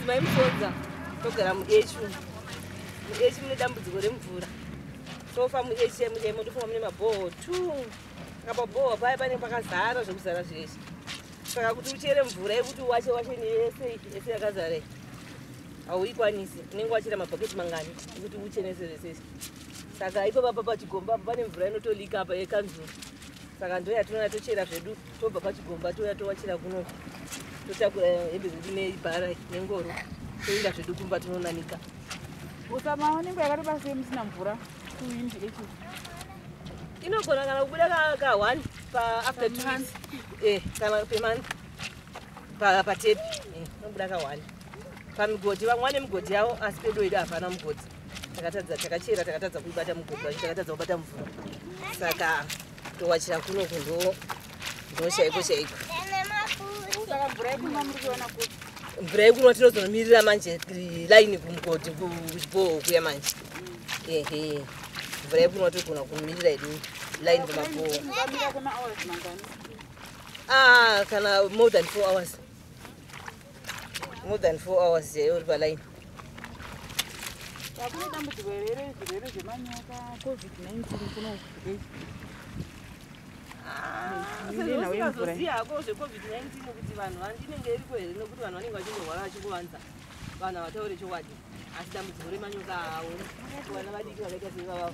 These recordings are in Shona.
mai musodza togara muechi umu muechi mune dambudziko remvura tofa muechi emuemo tofa mune mabhoho tu saka pabhoho paya pane pakazara zvekuzara zvese saka kuti uchere mvura yekuti uwache wache neyese ese yakazara hauikwanisi unenge wachera mabhaketi mangani ekuti uchenese zvesese saka ipo papa pachigomba apo pane mvura inotolika apa yekanzuru saka ndoya tinoya tochera zvedu tobva pachigomba toya towachira kuno totakura hembe zvedu nebhara nengoro toenda zvedu kumba tinonanika usamaonengo yakatobasei musina mvura kuwindi echi inogona kana kubuda ka one paafter two months eh kana pemonth patepi eh, inobuda ka one pamigodhi vamwe vane migodhi yavo asi pedo yedu hapana mugodhi takatadza takachera takatadza kuibata mugogwa takatadza kubata mvura saka towachira kuno kundo ndoshaiko shaiko mvura yekunwa tinozonomirira manje laini kumugodhi kuchibhoho kuya manje ehe mvura yekunwa togona kumirira ini laini kumabhoho ah, kana more than four hours more than four hours chaiyo uri palaini hakuna dambudziko here zvirwere zvemanyoka covid-19 kuno usingazoziva hako zvecovid-19 kuti vanhu vandinenge iriko here nokuti vanhu vanenge vachingorwara vachingovanza vanhu havataure chokwadi asi dambudziko remanyoka awo vana vadiki vakaita sevavavo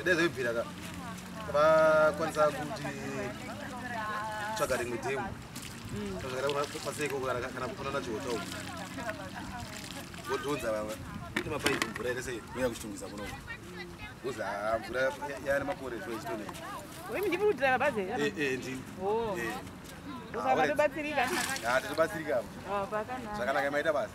ndezvebviraka vakwanisa kuti tsvaga rimwe demo kana kufanana chihota uku votiunza vava kuti mapaipi mvura ere sei uya kuchitungisa muno kuzi haa mvura yaane makore zvo ichitone ndikuudira bazi ndinobatsirika ndinobatsirika zvakanaka maita basa